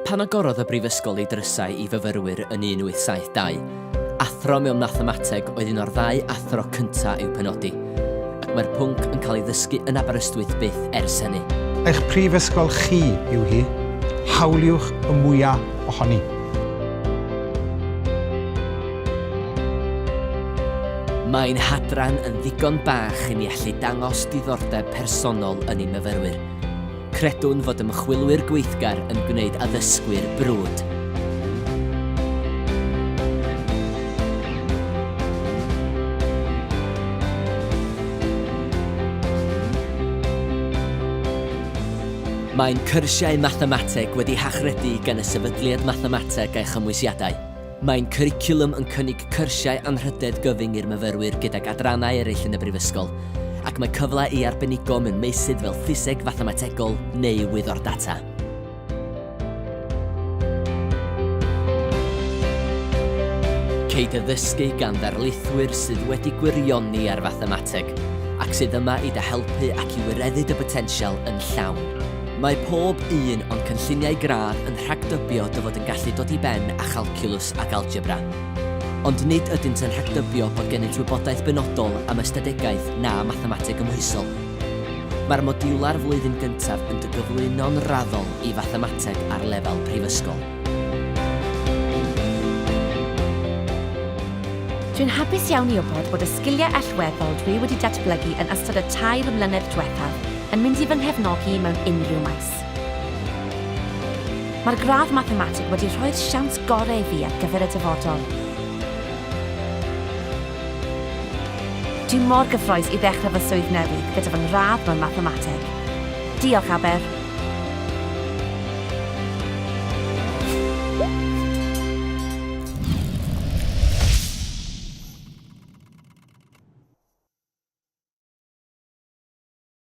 Pan agorodd y Brifysgol ei drysau i fyfyrwyr yn 1872, athro mewn mathemateg oedd un o'r ddau athro cyntaf i'w penodi, ac mae'r pwnc yn cael ei ddysgu yn Aberystwyth byth ers hynny. Eich prifysgol chi yw hi, hawliwch y mwyaf ohoni. Mae ein hadran yn ddigon bach i ni allu dangos diddordeb personol yn ein myfyrwyr. Credwn fod ymchwilwyr gweithgar yn gwneud addysgwyr brwd. Mae'n cyrsiau mathemateg wedi hachredu gan y Sefydliad Mathemateg a'i Chymwysiadau. Mae'n cwricwlwm yn cynnig cyrsiau anrhydedd gyfyng i'r myfyrwyr gydag adrannau eraill yn y Brifysgol, ac mae cyfle i arbenigo mewn meysydd fel ffiseg fathemategol neu wyddor data. Ceid addysgu gan ddarlithwyr sydd wedi gwirioni ar fathemateg, ac sydd yma i dy helpu ac i wireddu dy botensial yn llawn. Mae pob un o'n cynlluniau gradd yn rhagdybio dy fod yn gallu dod i ben â chalciwlws ac algebra. Ond nid ydynt yn rhagdybio bod gennyt wybodaeth benodol am ystadegaeth na mathemateg gymhwysol. Mae'r modiwlau'r flwyddyn gyntaf yn dy gyflwyno'n raddol i fathemateg ar lefel prifysgol. Dwi'n hapus iawn i wybod bod y sgiliau allweddol dwi wedi datblygu yn ystod y tair mlynedd diwethaf yn mynd i fy nghefnogi mewn unrhyw maes. Mae'r gradd Mathemateg wedi rhoi'r siawns gorau i fi ar gyfer y dyfodol. Dwi mor gyffroes i ddechrau fy swydd newydd gyda fy ngradd mewn Mathemateg. Diolch, Aber!